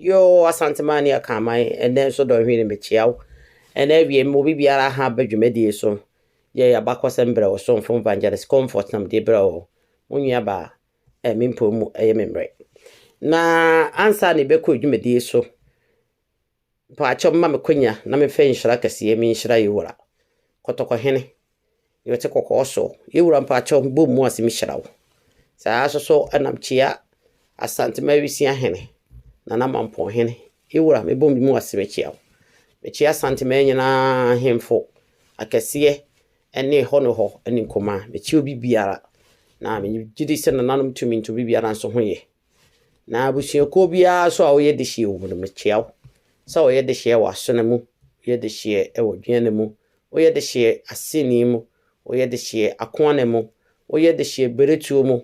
Yoo Asanteman ne Akanman ɛnnɛ nso Dɔnhwere mekyea wo ɛna awiei mema obi biara ha ba dwumadie so yɛ yabakɔsɛm brɛ wo somfo Evangelist Comfort na mede brɛ wo mo nua baa ɛɛ me mpɔn mu ɛyɛ me mmerɛ na ansa na yɛbɛkɔ dwumadie so Mpaakyɛw mma me kwanya na me fɛ nhyira kɛseɛ me nhyira yɛ wura kɔtɔkɔ hene deɛ ɔte kɔkɔɔ soɔ yɛ wura mpaakyɛw bom mu ase me hyira wo saa ara soso ɛna me kyia asante ma awisia hene nana mampɔn hene yɛ wura me bom mu ase me kyia wo me kyia asante ma nyinaa hemfo akɛseɛ ɛne hɔ ne hɔ ɛne nkumaa me kyia obi biara na me gyidi sɛ nananom tumi nto obi biara nso ho yɛ Na abusuakuo biara nso a woyɛ dehyeɛ wɔ mu no, mekyea wo. Sɛ woyɛ dehyeɛ wɔ asono mu, woyɛ dehyeɛ wɔ dweane mu, woyɛ dehyeɛ aseni mu, woyɛ dehyeɛ akoane mu, woyɛ dehyeɛ beretuo mu,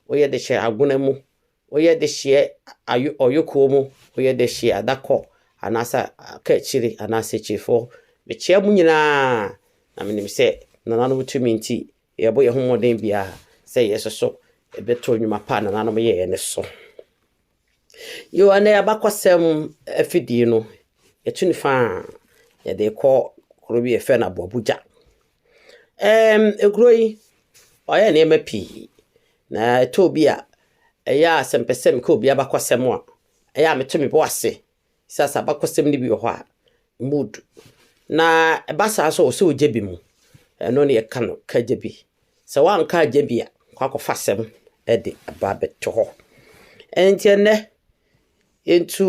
woyɛ dehyeɛ agona mu, woyɛ dehyeɛ ayo ɔyokoɔ mu, woyɛ dehyeɛ adakɔ anaasɛ kaakyire anaasɛ kyirefoɔ, mekyea mo nyinaa. Na menim sɛ nananom tumi nti, Yɛbɔ yɛn ho mmɔden biara sɛ yɛn nso so yɛbɛto nnwuma pa a nananom yɛeɛ no so. Yɛwɔ ɛnɛ abakɔsɛm afidie no, yɛtu no fa a yɛde kɔ kuro bi yɛfrɛ no Aboabogya. Ɛm, ekuro yi, ɔyɛ nneɛma pii. Na ɛtɔ bi a, ɛyɛ a sɛ mpɛ sɛ meka obi abakɔsɛm a, ɛyɛ a meto me bo ase Sɛ sɛ abakɔsɛm no bi wɔ hɔ a, mood na ɛba saa nso a ɔsɛ ɔgya bi mu. Ɛno ne yɛka no ka gya bi. Sɛ woanka agya bi a, kɔ akɔfa asɛm de aba abɛto hɔ. Ɛnti ɛnɛ, yɛntu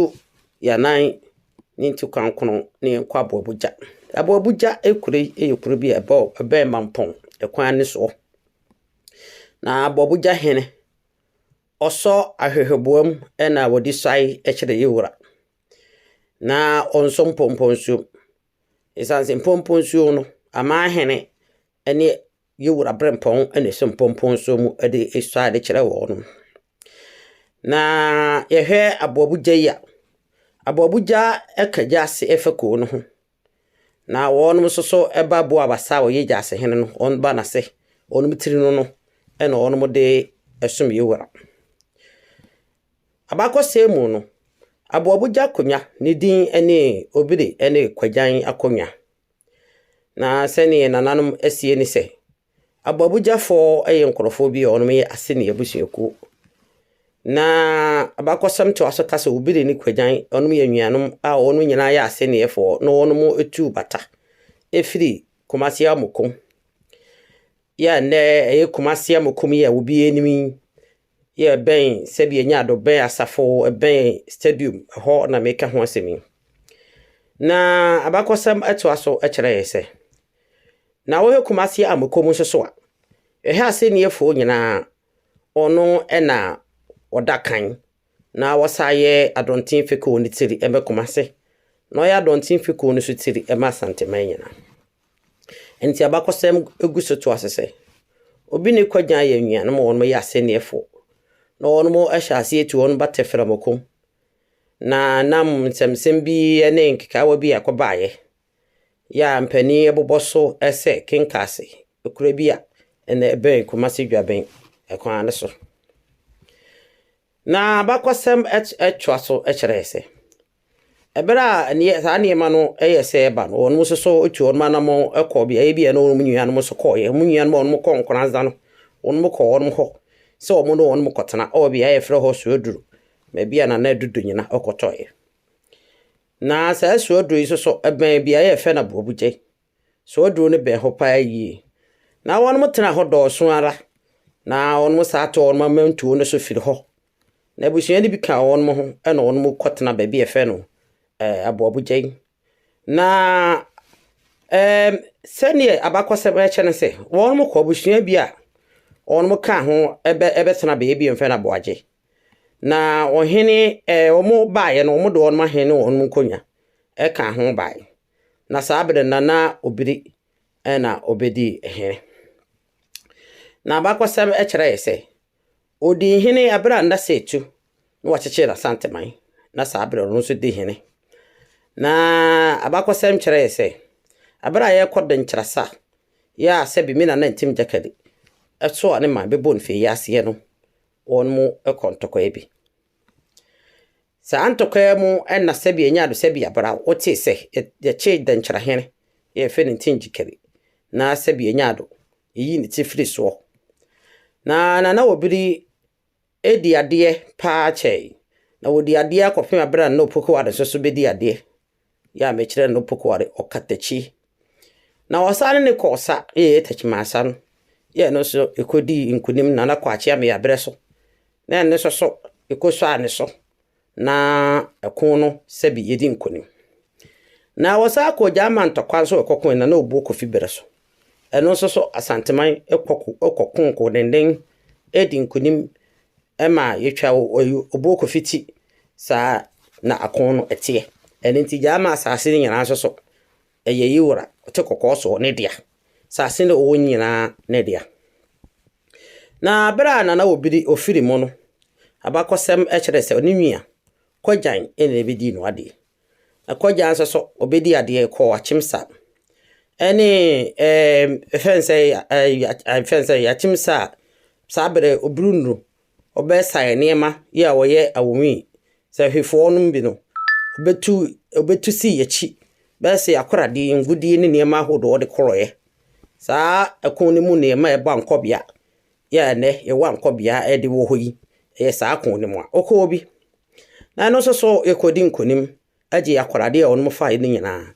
yɛnan ne nti kwankono na yɛnkɔ aboabogya. Aboabogya kuro yi yɛ kuro bi a ɛbɔ ɛbɛn mampɔn ɛkwan no soɔ. Na aboabogya hene. Ɔsɔ ahwehwɛboa mu na ɔde suae kyerɛ ne wura, na ɔnsɔ mpɔmpɔnsuo mu. Ɛsiane sɛ mpɔmpɔnsuo no, aman hene ne ne wura berempɔn na ɛsɔ mpɔmpɔnsuo mu de sua ade kyerɛ wɔn. Na yɛhwɛ aboabogya yi a, aboabogya ka gya ase fa kuo no ho. Na wɔnom nso so ba boa abasa a wɔyɛ gyaase hene no, wɔn ba n'ase, wɔnom tiri no no, ɛna wɔnom de ɛsom yɛ wura. Abakɔsɛm mu no, aboabogya akonya ne din ne obire ne kɔgyan akonya. Na sɛnea nananom asie ne sɛ, Abɔbɔgyafɔɔ yɛ nkorɔfoɔ bi a wɔn yɛ Aseni abusuakuo. Na abakɔsɛm toa so ka sɛ Obiri ne Kwagyan wɔn yɛ anuanom a wɔn nyinaa yɛ Asenifoɔ na wɔn tuu bata firi Kumasi Amukum yɛ a nnɛ ɛyɛ Kumasi Amukum yi a obiara nim yi Yɛrebɛn sɛdeɛ yɛnya adɔbɛn asafo bɛn stadium hɔ na meka ho asɛm yi. Na abakɔsɛm ɛtoa so kyerɛ yɛn sɛ, na wohwɛ Kumasi Amokom nso so a, ɛhɛ asɛnniɛfoɔ nyinaa ɔno na ɔda kan na wɔsan yɛ Adɔnten Fekuo no tiri ɛmɛ Kumasi na ɔyɛ Adɔnten Fekuo no so tiri ɛmɛ Asanteman nyinaa. Enti abakɔsɛm gu so toa so sɛ, Obi ne Kwadwo ayɛ anuanom a wɔyɛ asɛnneɛfo, na wɔahyɛ aseɛ atu wɔn ba tɛferɛmo ko. Na nam nsɛmnsɛm bi ne nkekaawa bi a ɛkɔbaeɛ yɛ a mpanin bobɔ so sɛ Kenkaase, akuraa bi a ɛna ɛbɛn Kumasi Dwaben kwan no so. Na abakɔsɛm toa so kyerɛɛ sɛ, Bere a nneɛ saa nneɛma no yɛ sɛ ɛba no, wɔn nso so tu wɔn anammɔn kɔ beaeɛ bi a ɛne wɔn nuanom nso kɔeɛ. Wɔn nuanom a wɔn kɔ nkoranza no, wɔn kɔ wɔn hɔ sɛ wɔn ne wɔn kɔtena wɔ beaeɛ a yɛfrɛ hɔ Suaduru, baabi a Nana Adu Dunyina kɔtɔeɛ. Na saa Suaduru yi nso so ɛbɛn beaeɛ a yɛfrɛ no Aboabugya. Suaduru no bɛn hɔ paa yie. Na wɔn tena hɔ dɔɔso ara, na wɔn saa to wɔn amantuo no so firi hɔ Na abusua no bi ka wɔn ho na wɔn kɔtena baabi a yɛfrɛ no eh, Aboabogyan. Na eh, sɛdeɛ abakɔsɛm ɛkyɛ no sɛ, wɔn kɔ abusua bi a wɔn ka ho ɛbɛ ɛbɛtena baabi bi yɛfrɛ no Aboagye. Na ɔhene eh, wɔn baeɛ no, wɔn de wɔn ahene ne wɔn nkonnwa ɛka ho baeɛ. Na saa bere na na obiri ɛna obedi hene. Na abakɔsɛm ɛkyerɛ yɛ sɛ, Odii hene bere a na Setu na wɔkyekyee n'Asanteman, na saa bere no ɔno nso dii hene. Na abakɔsɛm kyerɛe sɛ, bere a yɛrekɔ Denkyirasa yɛ a sɛbe me nana Ntim Gyakali so a ne man bɛbɔ no fii aseɛ no, wɔn mu kɔ ntɔkwaɛ bi. Saa ntɔkwaɛ mu na sɛbe ɛnya do sɛbe abere a wɔtee sɛ yɛkyee Denkyira hene yɛfrɛ no Ntim Gyakali na sɛbe ɛnya do eyi ne tsifri soɔ. Na Nana Obiri edi adeɛ paa kyɛe, na wɔdi adeɛ akɔpem aber a Nana Opokuware nso so bedi adeɛ, yɛ a mekyerɛ Nana Opokuware ɔkatakyi. Na ɔsane ne kɔɔ sa, yɛ yɛ Takyimansa no, yɛ ɛno nso ɛkɔdii nkunim, Nana Kwakye Ameyaberɛ so, na ɛno nso so ɛkɔsuaa ne so, na ɛko no sɛbi yɛdi nkonim. Na wɔsan kɔɔ Gyaaman ntɔkwa nso ɛkɔkoe na na obuo Kofi Berɛ so. Ɛno nso so Asanteman kɔko kɔko nkodenenden di nkonim ma yɛtwa obuo Kofi ti saa na ako no ɛteɛ. Ɛno nti Gyaaman asaase no nyinaa nso so Ɛyɛ ye wura, ɔte kɔkɔɔ soɔ, ne dea, 'sase ne ɔwɔ nyinaa ne dea. Na berɛ a Nana Obiri ɔfiri mu no, abakɔsɛm kyerɛ sɛ ɔne nua, Kɔgyan, na ɛbɛdii no adeɛ. Na Kɔgyan nso so, ɔbɛdii adeɛ kɔɔ Akyemsa ne ɛɛm, ɛfɛn sɛ, ɛɛm, ɛfɛn sɛ, Akyemsa a saa berɛ Obiri nnuru wɔbɛsaɛ nneɛma yi a wɔyɛ awɔnyi yi, sɛ hwefoɔ nom bi no, wɔbɛtu wɔbɛtu si akyi bɛyɛ sɛ akoradi, ngudie ne nneɛma ahodoɔ wɔde korɔɛ. Saa ɛko no mu nneɛma a ɛba nkɔbea yɛ a ɛnɛ yɛwɔ ankɔbea ɛde wɔ hɔ yi, ɛyɛ saa ko no mu a. Wokɔ hɔ bi? Na ɛno nso so yɛkɔdi nkonim. gyee akorade a wɔnom fae no nyinaa,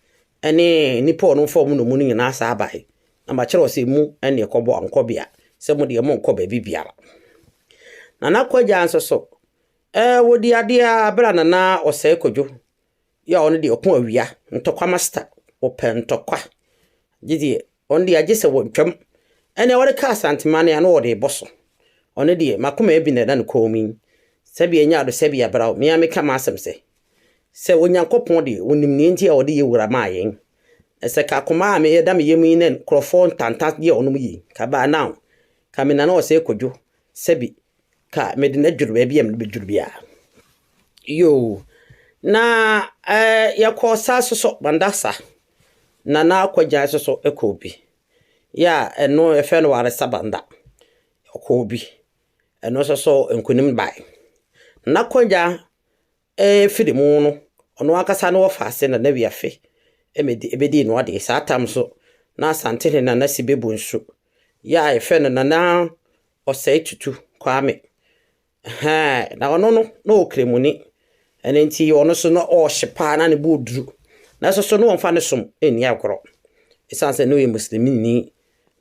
ne nnipa a wɔnom faa wɔn nnomu no nyinaa saa bae, na makyerɛw sɛ, Mu ne ɛkɔbɔ ankɔbea, sɛ mo deɛ monnkɔ baabi biara. Nana Kwagyaa nso so, ɛɛ wɔdi adeɛ ara berɛ a Nana Ɔsɛe Kwadwo, yɛ a ɔno deɛ ɔko awia, ntɔkwa master, ɔpɛ ntɔkwa, gye deɛ Ɔno deɛ gye sɛ wɔtwam. Ɛnneɛ wɔde ka Asanteman a na wɔde rebɔ so. Ɔno deɛ, m'akoma abi na ɛda ne kɔn mu yi. Sɛbea nya ɔdɔ sɛbea bra o, me ara meka m'asɛm sɛ, sɛ Onyankopɔn deɛ ɔnim nea enti a ɔde yɛ wura maa yɛn. Na sɛ ka akoma a ɛda me yam yi na nkurɔfoɔ ntanta deɛ wɔnom yi, ka by now, ka me nana ɔsɛe Kwadwo, sɛbi, ka mede no adwiri baabi a mede no bɛdwiri biara. Yoo. Na eh, yɛkɔɔ saa so so, Bandasa, Nana Akwagyai nso so kɔɔ bi. Yɛ a ɛno yɛfrɛ no Waresɛ Banda, ɔkɔɔ bi. Ɛno nso so nkunim bae. Nana Kwagya firi mu no, ɔno ankasa ne ɔfaa ase Nana Wiafe bɛdii no adeɛ. Saa tam nso na Asantehene Nana Sibebu nso, yɛ a yɛfrɛ no Nana Ɔsɛetutu Kwame, Ɛhɛɛ, na ɔno no, na ɔyɛ ɔkramoni. Ɛno nti ɔno nso na ɔhye paa, na ne bo yɛ duru. Nanso so na ɔmfa ne som nni agorɔ. Ɛsiane sɛ na ɔyɛ Muslimini,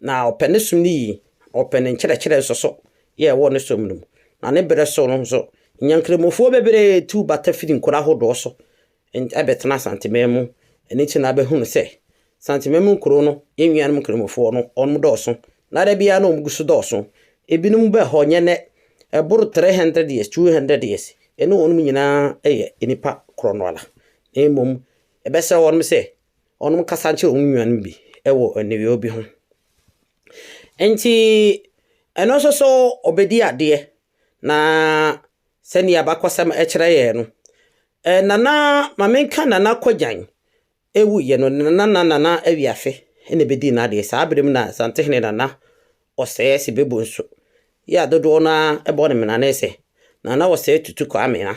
na ɔpɛ ne som no yie, ɔpɛ ne nkyerɛkyerɛ nso so yɛ ɛwɔ ne som no mu. Na ne berɛ so no nso, Nyankramofoɔ bebree tuu bata firii nkuro ahodoɔ so bɛtena Asanteman mu. Ɛno nti na wobɛhunu sɛ Asanteman mu nkuro no, yɛn nuanom nkramofoɔ no, wɔdɔɔso. Na da biara na wɔgu so dɔɔso. Ebinom baa hɔ, nyɛ nnɛ, ɛboro 300 years, 200 years. Yɛne wɔn nyinaa yɛ nnipa korɔ no ara. Na mmom yɛbɛsrɛ wɔn sɛ wɔnkasa nkyerɛ wɔn nuanom bi wɔ aniwieeɛ bi ho. Enti ɛno nso so wɔbɛdi adeɛ. Na sɛdeɛ abakɔsɛm kyerɛ yɛn no, Eh Nana ma menka Nana Kwadjan ewu yɛ no Nana na Nana Awiafe na ebedii n'adeɛ saa bere mu na Asantehene Nana Ɔsɛɛ se bebu nso yɛ a dodoɔ no ara bɔ ne mena ne se Nana Ɔsɛɛ Tutu Kwame a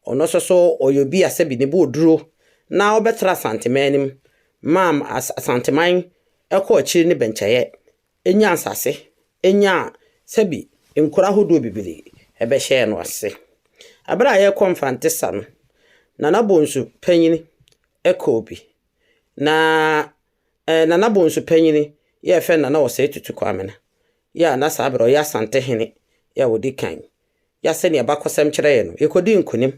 ɔno nso so ɔyɛ obi a sɛbi ne bo oduro na ɔbɛtra Asanteman no mu maa Asanteman kɔ akyiri ne bɛnkyɛeɛ Enyaa nsase, enyaa sɛbi nkuro ahodoɔ bebree ɛbɛhyɛɛ no ase. Ɛberɛ a yɛrekɔ Mfante sa no, Nana Bonsu panyini ɛkɔɔ bi. Na ɛɛ Nana Bonsu panyini yɛ yɛfrɛ no Nana Osei Tutu Kwamena, yɛ a na saa berɛ ɔyɛ Asantehene yɛ a ɔdi kan. yɛ sɛnea abakɔsɛm kyerɛ yɛn no, yekodii nkonim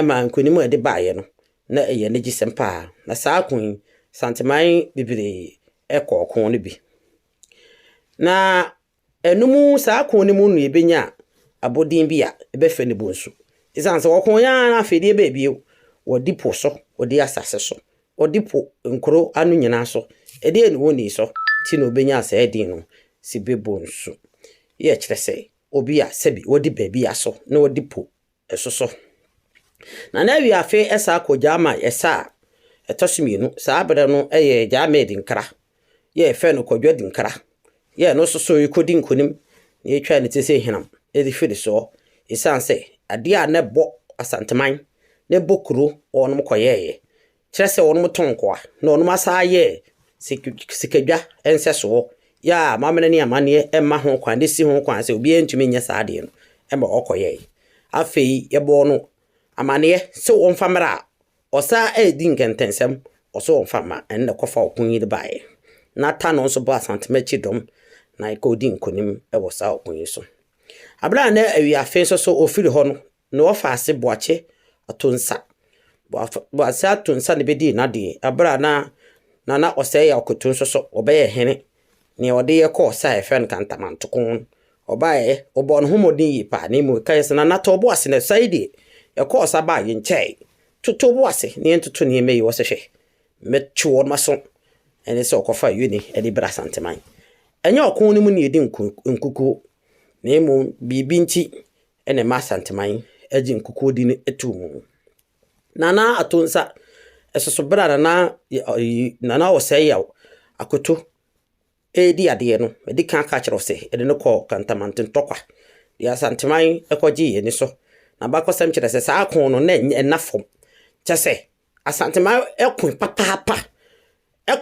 maa nkonim a ɛde baeɛ no, na ɛyɛ anigyesɛm paa. Na saa ko yi, Santeman bebree kɔɔ ko no bi. Na ɛno mu, saa ko no mu no yɛbɛnya abɔdin bi a ɛbɛfɛ no bonsu. Ɛsiane sɛ wɔko yɛn ara afei deɛ ɛbɛɛ bio, wɔde po so, wɔde asase so, wɔde po nkuro ano nyinaa so, ɛdeɛ ne wɔnii so nti na wɔbɛnyaa saa din no, Sibebonsu. Yɛ kyerɛ sɛ, obi a sɛbi wɔdi baabi aso na wɔdi po so so. Na na awi afe ɛsaa kɔ gyaa ma ɛsa a ɛtɔ so mmienu. Saa berɛ no yɛ gyaa ma adinkra. Yɛ ɛfɛ no kɔdwo adinkra. Yɛ no soso yi kɔdi nkonim na yɛtwa ne ti sɛ hinam ɛdi firi soɔ. Ɛsiane sɛ adeɛ a na ɛbɔ asanteman na ɛbɔ kuro wɔnom kɔyɛɛyɛ kyerɛ sɛ wɔnom tɔn nkoa na wɔnom asan ayɛ sikadwa nsɛsoɔ yɛ a mamena ne amaneɛ ɛma ho kwan de si ho kwan sɛ obiara ntumi nyɛ saa adeɛ no ɛma ɔkɔ yɛɛ afei yɛbɔɔ no amaneɛ sɛ wɔn fa mmerɛ a ɔsan ɛdi nkɛntɛnsɛm ɔsɛ wɔn fa ma ɛnna kɔfa ɔko yi de baeɛ na ta no nso bɔ asantemakyi dɔm na ɛkɔ di nkonim ɛwɔ saa ɔko yi so abira na awi afe nso so ofiri hɔ no na ɔfa ase boakye ato nsa. Boakye ase ato nsa na bɛdii n'adeɛ ɛberɛ a na Nana Ɔsɛeɛ Akoto nso so ɔbɛyɛ hene. Nea ɔde yɛ kɔɔ sa a yɛfrɛ no Kantama-Ntoko no, ɔbaeɛ, ɔbɔɔ ne ho mmɔden yie paa na mmom ɛkaeɛ sɛ, Nana tɔ wo bo ase na sa yi deɛ, yɛkɔɔ sa baa yɛnkyɛɛe. Toto wo bo ase na yɛntoto nneɛma yi. Ɔse hwɛ, mɛtwe wɔn aso. Ɛne sɛ ɔkɔfaa Yoni de brɛɛ Asanteman. Ɛnyɛ ɔko no mu na yɛdi nkukuo na mmom biribi nti na ɛma Asanteman gye nkukuodi no too mu. Nana Ato Nsa soso berɛ a Nana Nana Ɔsɛe Yaw Akoto redi adeɛ no, madi kan ka kyerɛ sɛ yɛde no kɔɔ Kantamanto Ntɔkwa, deɛ Asanteman kɔgyee ani so. N'abakɔsɛm kyerɛ sɛ saa ko no na ɛnna fam, kyɛ sɛ Asantema koe papaapa,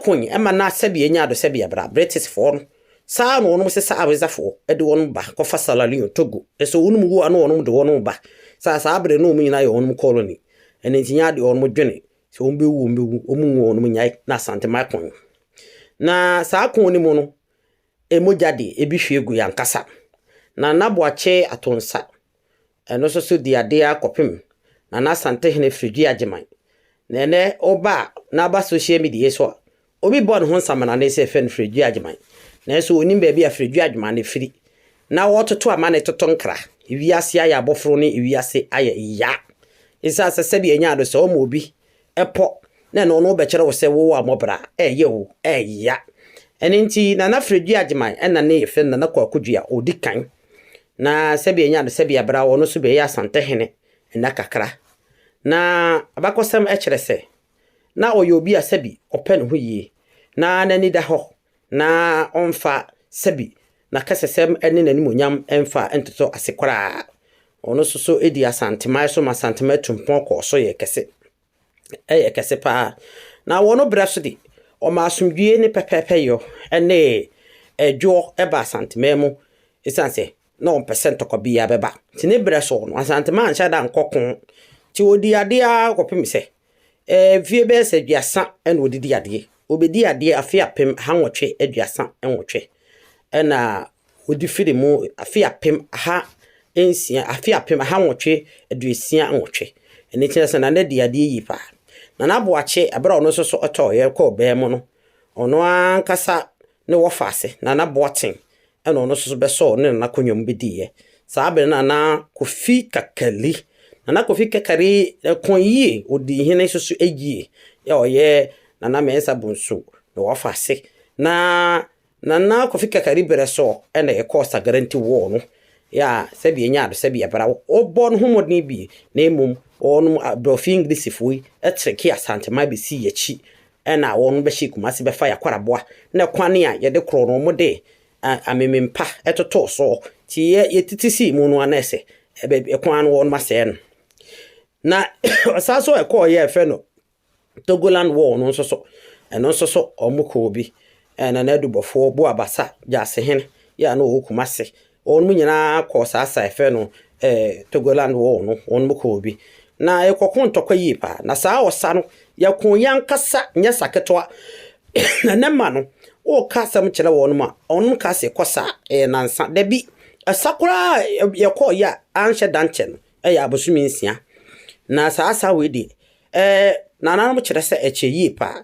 koe ma na sɛdeɛ ɛnya do sɛdeɛ bra Britishfoɔ no, saa na wɔn sesa Awezafoɔ de wɔn ba kɔfa Sierra Leone, Togo, nso wɔn mu a na wɔn de wɔn ba, saa saa bere na wɔn nyinaa yɛ wɔn colony, ɛno nti nya deɛ wɔn dwene sɛ wɔn bɛwu wɔn bɛwu, wɔn nwu wɔn nyae na Asantema koe. Na saa koe no mu no, mogya deɛ ebi hwie gu yɛn ankasa. Na Nana Boakye Atonsa Ɛno nso so dii ade ara kɔpem Nana Asantehene Firidwui Agyeman. Na ɛnnɛ woba a na aba social media yi so a, obi bɔ ne ho nsamena ne sɛ yɛfrɛ no Firidwui Agyeman. Nanso ɔnnim baabi a Firidwui Agyeman no firi. Na wɔtoto ama no toto nkra. Wiase ayɛ aboforo ne wiase ayɛ ya. Esiane sɛ sɛdeɛ ɛnya no sɛ ɔma obi pɔ na ɛno no wobɛkyerɛ wo sɛ wowɔ amɔbra ɛyɛ o ɛya. Ɛno nti Nana Firidwui Agyeman ɛna ne yɛfrɛ no Nana Kwaku Dua ɔdi kan. na sɛdeɛ ɛnya no sɛdeɛ bra ɔno nso bɛyɛ Asantehene nna kakra. Na abakɔsɛm kyerɛ sɛ na ɔyɛ obi a sɛbi ɔpɛ ne ho yie na n'ani da hɔ na ɔmfa sɛbi n'akɛsɛsɛm ne n'animuonyam mfa ntoto ase koraa. Ɔno nso so di Asanteman so ma Asanteman tu mpɔn kɔɔ so yɛɛ kɛse. yɛ kɛse pa ara. Na wɔ no berɛ so de, ɔmaa asomdwoeɛ ne pɛpɛɛpɛyɔ ne ɛdwoɔ baa Asanteman mu ɛsiane sɛ na ɔmpɛ sɛ ntɔkwa biara bɛba. Nti ne berɛ so no, Asanteman anhyɛ da nkɔ ko. Nti ɔdii adeɛ ara kɔpem sɛ mfeɛ bɛyɛ sɛ aduasa na ɔde di adeɛ. Ɔbɛdii adeɛ afe apem ha nwɔtwe aduasa nwɔtwe ɛna Wode firi mu afe apem aha nsia, afe apem aha nwɔtwe aduosia nwɔtwe. Ɛno kyerɛ sɛ Nana dii adeɛ yie paa. Nana Boakye, berɛ a ɔno nso so tɔɔeɛ kɔɔ baa mu no, ɔno ankasa ne wɔfaase, Nana Boateng, ɛna ɔno nso so bɛsɔɔ ne Nana Konyo mu bɛdiiɛ. Saa berɛ no na na Kofi Kakali, Nana Kofi Kakari ko yie, ɔdii hene nso so yie. Yɛ ɔyɛ Nana Mensah Bonsu ne wɔfaase. Na Nana Kofi Kakari berɛ so na yɛkɔɔ Sagaranti ward no a sɛdeɛ ɛnyɛ ade sɛ bia bra wɔbɔɔ ne ho mmɔden bi na mmom wɔnom Aborɔfi Englishfoɔ yi kyerɛkee Asanteman bɛsii yɛn akyi ɛna wɔnom bɛhyɛɛ Kumasi bɛfa yɛn Akwaraboa na kwane a yɛde korɔ no wɔnom de amemempa totoo so nti yɛ yɛtete sii mu no a na ɛsɛ kwan no wɔnom asɛe no na ɔsan so ɛkɔɔ yɛ ɛfɛ no Togoland war no nso so, ɛno nso so wɔkɔɔ bi. Ɛna na adubɔfoɔ Boa Basa Gyaasehen yɛ a na ɔwɔ Kumase. Wɔn nyinaa kɔɔ saa sa ɛfɛ no eh, Togoland war no, wɔn kɔɔ bi. Na yɛkɔko ntɔkwa yie paa. Na saa ɔsa no, yɛko yɛn ankasa nyɛ sa ketewa. na ne ma no, woka asɛm kyerɛ wɔn mu a, wɔn ka se kɔ sa ɛyɛ nansa. Dabi, ɛsa koraa yɛkɔɔ yɛ a anhyɛ da nkyɛ no, ɛyɛ abosome nsia. Na saa sa wei deɛ, Ɛɛ, nananom kyerɛ sɛ ɛkyɛ yie paa.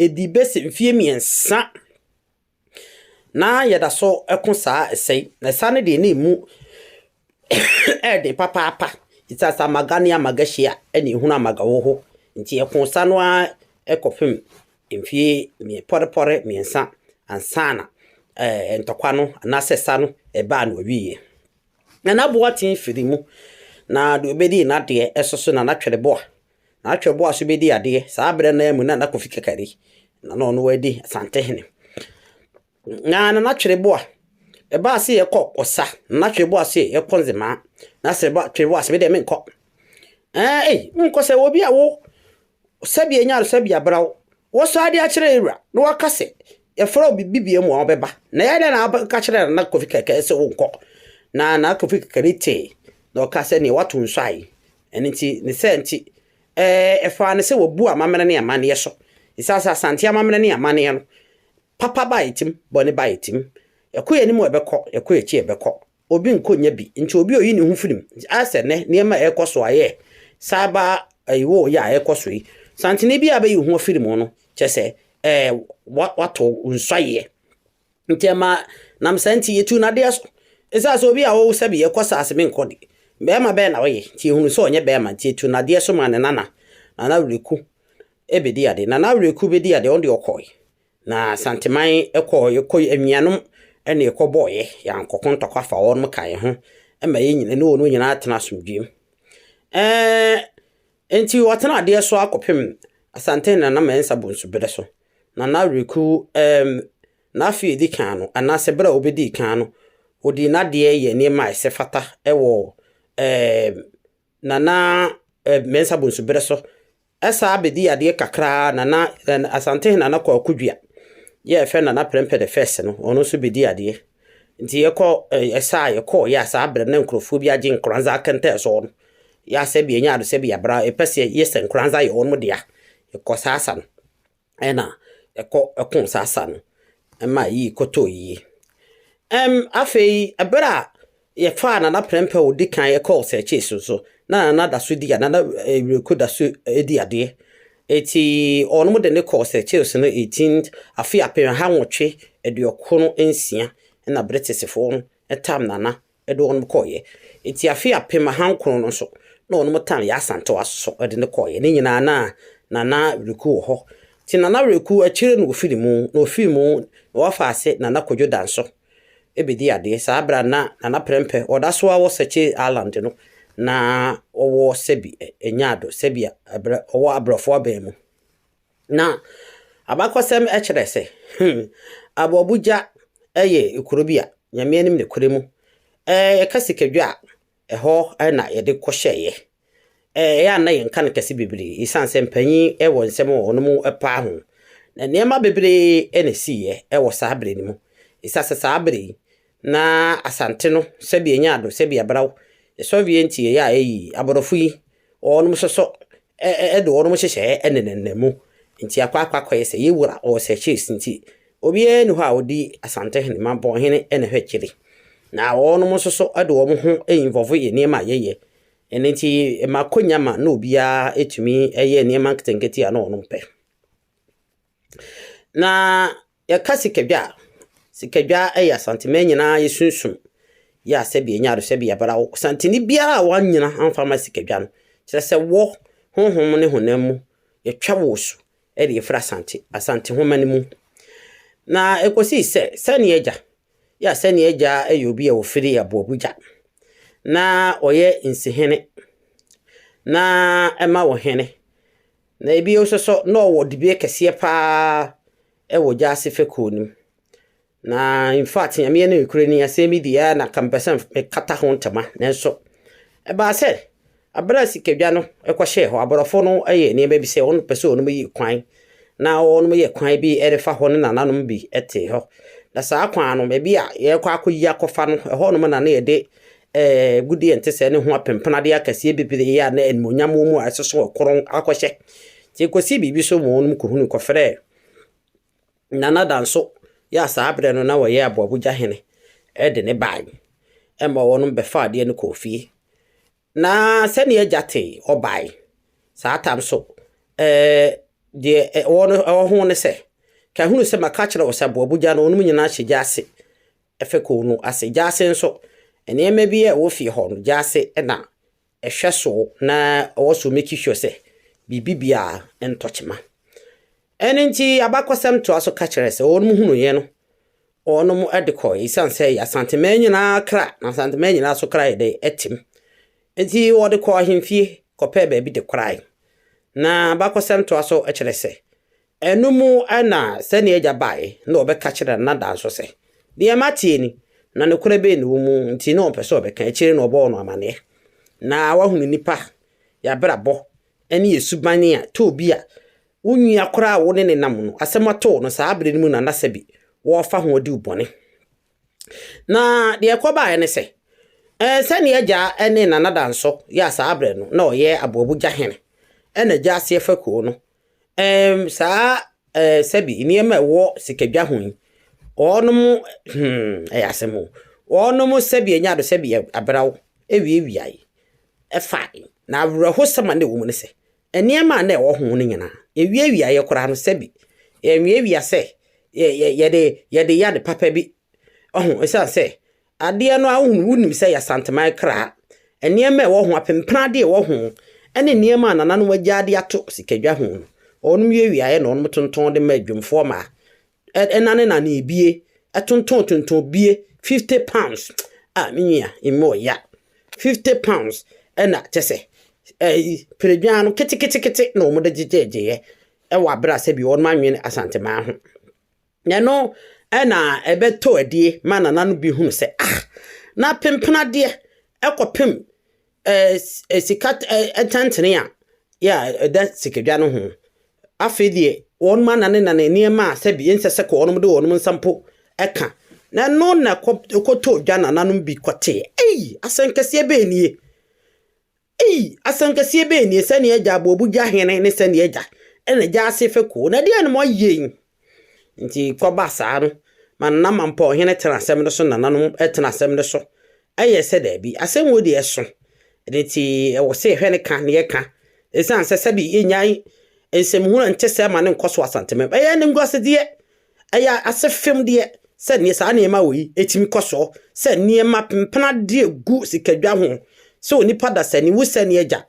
Ɛdi bɛsi mfeɛ mmiɛnsa na yɛda so ko saa ɛsɛ yi. Na ɛsa no deɛ na ɛmu ɛyɛ den papaapa. Ɛsiane sɛ amaga ne amaga hyia na ɛhunu amaga wɔ hɔ nti, yɛkoo sa no ara kɔpem mfeɛ pɔrepɔre mmiɛnsa ansa na ntɔkwa no anaasɛ sa no baa na wɔwieeɛ. Na n'aboaten firi mu, na deɛ ɔbɛdii n'adeɛ so so na n'atwerɛboa, n'atwerɛboa so bɛdi adeɛ, saa berɛ no ara mu na na Kofi Kakari, na na ɔno adi Asantehene. Na na n'atwerɛboa, ɛbaa sɛ yɛkɔ Ɔsa, na n'atwerɛboa sɛ yɛkɔ Nzemaa, na sɛ atwerɛboa sɛ medeɛ menkɔ. Ɛɛ, ei, wonkɔ sɛ obi a wo Sɛdeɛ nyaresan bi abra wo. Wɔsan de akyerɛ yɛn wura na waka sɛ yɛfrɛ wo biribi biam a ɔbɛba. Na yɛn dɛ na aka kyerɛ Nana Kofi Kɛkɛ sɛ wonkɔ. Na Nana Kofi Kɛkɛ no tee na ɔkaa sɛ neɛ wato nsuo aye. Ɛno nti ne saa nti ɛfaa no sɛ wabu amammerɛ ne amanneɛ so. Ɛsiane sɛ Asante amammerɛ ne amanneɛ no, papa baa yɛn tim, bɔne baa yɛn tim. Yɛkɔ yɛn anim a ɛbɛkɔ, yɛkɔ yɛn akyi a ɛbɛkɔ. obi nkɔ nnya bi nti obi oyi ne ho firi mu. Ayɛ sɛ nnɛ nneɛma a ɛrekɔ so ayɛ cyber ɛyi wɔ yɛ a ɛrekɔ so yi, santene bi a bɛyi ho afiri mu no kyɛ sɛ ɛɛ wato nsɔyeɛ. Nti ɛma nam saa nti yɛtu nadeɛ so. Ɛsɛ sɛ obi a ɔwɔ sɛ bi yɛkɔ saase me nkɔ de bɛrima bɛn na ɔyɛ nti yɛhunu sɛ ɔnyɛ bɛrima nti yɛtu nadeɛ so ma ne nana. Nana Awereku ɛbɛdi ade. Nana Awereku bɛdi ade ɔno deɛ ɔkɔe. Na Asanteman kɔɔ yɛkɔ anuanom ɛna yɛkɔ bɔɔ yɛ yɛankɔ ko ntɔkwa fa wɔn mo ka yɛn ho ɛma yɛn nyina ne wɔn nyinaa atena asomdwuem ɛɛ nti wɔtena adeɛ so akɔpem Asante Nana Mɛnsa Bonsu berɛ so na na Reku ɛɛm n'afeɛ di kan no anaasɛ berɛ a ɔbɛdii kan no ɔdii n'adeɛ yɛ nneɛma a ɛsɛ fata ɛwɔ ɛɛm Nana ɛɛm Mɛnsa Bonsu berɛ so Ɛsaa bɛdii adeɛ kakra ara na na Asantehene Nana Kwaku Dua yi a yɛfrɛ no Nana Prɛmpɛ the First no, ɔno nso bɛdii adeɛ. Nti yɛkɔ ɛsaa yɛkɔɔ yɛ a saa berɛ no na nkurɔfoɔ bi agye Nkoranza akɛntɛɛ so no. Yɛ a sɛbi yɛnya adosɛbi yɛabra yɛpɛ sɛ yɛyɛ sɛ Nkoranza yɛ wɔn dea. Yɛkɔ saa asa no. ɛna ɛkɔ ɛko saa sa no ɛma yi kɔtɔɔ yie. Ɛm afei ɛberɛ a yɛfaa Nana Prɛmpɛ a ɔdi kan ɛkɔɔ sɛkyee so so na Nana da so di a Nana Awureko da so di adeɛ. Eti ɔnom de ne kɔɔ sɛkyee so no 18 afe apem ha nwɔtwe aduokron nsia ɛna British foɔ no ɛtam Nana de wɔnom kɔeɛ. Enti afe apem ahankron no nso na wɔnom tan Yaa Asantewaa nso so de no kɔeɛ. Ne nyinaa na Nana Awereku wɔ hɔ. Nti Nana Awereku akyire no ɔfiri mu, na ɔfiri mu na wɔfa ase Nana Kwadwo Danso bɛdi adeɛ. Saa berɛ a na Nana Prɛmpɛ ɔda so ara wɔ Sakye Island no na ɔwɔ Sɛbi Nyado, Sɛbi a ɛberɛ ɔwɔ abrɔfoɔ aban mu. Na abakɔsɛm kyerɛ sɛ Aboabogya yɛ kuro bi a Nyame anim nokorɛ mu yɛka sikadwa a ɛhɔ na yɛde kɔ hyɛeɛ. Ɛyɛ a na yɛnka no kɛse bebree ɛsiane sɛ mpanyin wɔ nsɛm a wɔn paa ho. Na nneɛma bebree na ɛsiiɛ wɔ saa berɛ no mu. Ɛsiane sɛ saa berɛ yi Na Asante no sɛbi enya ado sɛbi abraw sɔvie ntsi yɛyɛ a eyi aborɔfo yi ɔɔnom sɔsɔ ɛ do ɔɔnom hyehyɛɛ ɛne ne nna mu ntsi akɔ akɔ akɔyɛ sɛ yɛ wura ɔɔ sɛ cheese ntsi obiara nni hɔ a odi Asante hene ma bɔn hene ɛna hwɛ kyiri na ɔɔnom nsosɔ ɛde wɔn ho ɛyi nvɔvo yɛ nneɛma a yɛyɛ ɛne ntsi ma akonya ma na obiara ɛtumi ɛyɛ nneɛma nketenkete a na ɔnom pɛ na Yɛka sikadwa a, sikadwa yɛ Asanteman nyinaa yɛsunsum yɛ a sɛbi yɛnya do sɛbi yɛbra wo. Santeni biara a w'anyina amfa ama sikadwa no, kyerɛ sɛ wɔ honhom ne honam mu yɛtwa wo su de yɛfiri Asante, Asante homa no mu. Na ɛkɔsii sɛ Sani agya, yɛ a Sani agya yɛ obi a ɔfiri Aboabugya, na ɔyɛ Nsihene, na ɛma wo hene, Na bio nso so, na ɔwɔ dibea kɛseɛ pa ara wɔ gyaase fekuo no mu. Na infact, Nyame yɛ ne nokorɛ ni, asɛm yi deɛ na nka mepɛ sɛ mekata ho ntama. Nanso, ɛbaa sɛ, aberɛ a sikadwa no kɔhyɛɛ hɔ, aborɔfo no yɛ nneɛma bi sɛ wɔpɛ sɛ wɔnom yi kwan, na wɔnom yɛ kwan bi de fa hɔ ne nananom bi te hɔ. Na saa kwan no, baabi a yɛrekɔ akɔyi akɔfa no, ɛhɔnom na na yɛde Ɛɛ, agudeɛ a ɛte sɛɛ ne ho apempenadeɛ akɛseɛ bebree a na animuonyam wɔ mu a ɛsoso ɔkorɔn akɔhyɛ. Nti ɛkɔsii biribi so ma wɔnom kɔhunuu kɔfrɛɛ Nana Danso yɛ a saa berɛ no na ɔyɛ Aboabogya hene de ne bae. Ɛma wɔnom bɛfaa adeɛ no kɔɔ fie. Na sɛdeɛ agya tee ɔbae saa tam so ɛɛ deɛ ɛwɔ no ɛwɔ ho ne sɛ, ka hunu sɛ maka akyerɛ wo sɛ Aboabogya no wɔnom nyinaa hyɛ gya ase Fekuw no ase gyaase nso, nneɛma bi a ɛwɔ fie hɔ no gyaase na ɛhwɛ so na ɔwɔ so make sure sɛ biribi biara ntɔ kyema. Ɛno nti abakɔsɛm toa so ka kyerɛ sɛ wɔn hunuiɛ no wɔnom de kɔ ɛsiane sɛ yɛ asantemaa nyinaa kra na asantemaa nyinaa so kra yɛ dɛ ɛtem nti wɔde kɔ ahemfie kɔpɛɛ baabi de korae na bakɔsɛm toa so kyerɛ sɛ Ɛno mu na sɛnea agya bae na ɔbɛka kyerɛ no na da nso sɛ, Nea mate ni, na nokorɛ bɛn na ɛwɔ mu nti na ɔmpɛ sɛ ɔbɛka? Akyire no ɔbɔɔ no amanneɛ, na wahunu nnipa, yɛn abrabɔ, ne yɛn suban a tɔ obi a wo nua koraa a wo ne no nam no asɛm ato wo no saa bere no mu na na sɛbi wɔrefa ho adi wo bɔne. Na deɛ ɛkɔbaeɛ ne sɛ, ɛɛ sɛnea agya ne nanada nso yɛ saa bere no na ɔyɛ aboabogya hene, ɛna agya aseɛ fa kuo no Ɛɛm, saa ɛɛ sɛbi nneɛma a ɛwɔ sikadwa ho yi, wɔnom hmm, ɛyɛ asɛm o. Wɔnom sɛbi anya do sɛbi abraw awiawiae ɛfa na awerɛhosɛm a na ɛwɔ mu ne sɛ nneɛma a na ɛwɔ ho no nyinaa ɛwiawiaeɛ koraa no sɛbi yɛnwiawia sɛ yɛde yɛde yɛ ade papa bi Ɔho, ɛsiane sɛ adeɛ no a wohunu, wonim sɛ yɛ santeman kra, nneɛma a ɛwɔ ho, apempena adeɛ a ɛwɔ ho, ɛne nneɛma a nananom agyaa de ato sikadwa ho no, wɔnom yɛ wiaeɛ na wɔnom tontɔn de ma adwumfoɔ ma ɛnane nane ebie, ɛtontɔn tontɔn bie, 50 pounds, a me nua, ɛmu ɔya, 50 pounds, ɛna kyɛ sɛ, ɛyi, peredwan no keteketekete na wɔn de gyegyegyeeɛ, ɛwɔ abere a sɛbi wɔnom anwene asanteman ho. Na ɛno na ɛbɛtɔ adie ma nana no bi hunu sɛ, ah, na pempenadeɛ ɛkɔpem ɛɛ sika ɛntɛntene a yɛ a ɛda sikadwa no ho. Afei deɛ wɔn anane nane nneɛma a sɛbi ɛnsɛ sɛ kɔ wɔn de wɔn nsa mpo ɛka. Na ɛno na ɛkɔtɔ dwa nananom bi kɔtee. Ei, asɛnkɛseɛ bɛn nie? Ei, asɛnkɛseɛ bɛn nie, sɛdeɛ agya abɔ obu gya hene ne sɛdeɛ agya na gya ase fekuo, na ɛdeɛn na moayɛ yi? Nti kɔba saa no, ma nana mampɔn hene tena asɛm no so na nananom tena asɛm no so, ɛyɛ sɛ daabi, asɛm wei deɛ ɛso, ɛno nti ɛwɔ sɛ yɛhwɛ ne ka na yɛka, ɛsiane sɛ sɛbi yɛnyae nsɛmhunu a ɛnte sɛ ma no nkɔ so asantemam, ɛyɛ animguasedeɛ Ɛyɛ ase fem deɛ sɛ neɛ saa nneɛma wɔ yi ɛtumi kɔ soɔ sɛ nneɛma pempena deɛ gu sikadwa ho sɛ onipa dasani wo sɛ ne agya